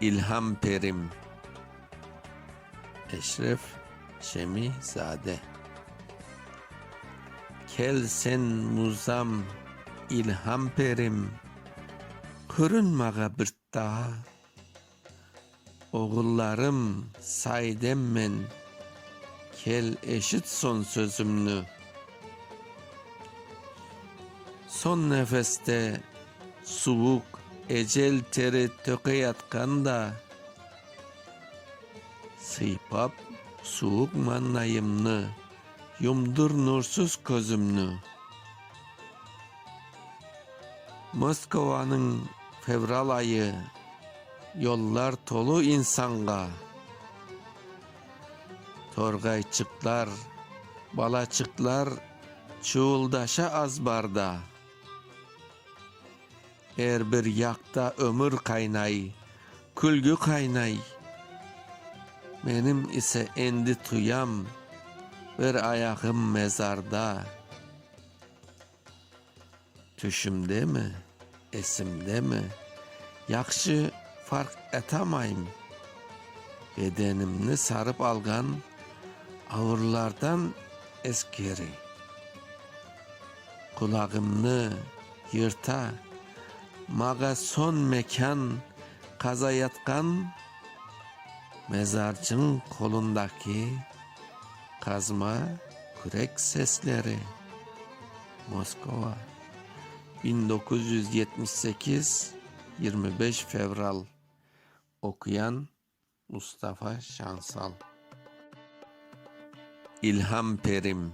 İlham Perim Eşref Şemizade Kel sen muzam İlham Perim Körün mağa bir daa Oğullarım, saidemmen, kel eşit son sözümni. Son nefeste suvuq ecel teri tökeyatqan da, sıypap suvuq mannayımnı, yumdur nursuz közümni. Moskovanıñ fevral ayı. Yollar tolu insanğa, torğayçıqlar, balaçıqlar çuuldaşa azbarda. Er bir yaqta ömür qaynay, külgü qaynay. Menim ise endi tuyam, bir ayağım mezarda. Tüşümdemi, esimdemi, yahşı farq etamayım, bedenimni sarıp alğan ağırlardan eskeri, qulağımnı yırta, mağa son mekân qazayatqan mezarcıñ qolundaki Qazma kürek sesleri, Moskova, biñ doquz yüz yetmiş sekiz, yirmi beş fevral. Oquyan, Mustafa Şansal. İlham Perim.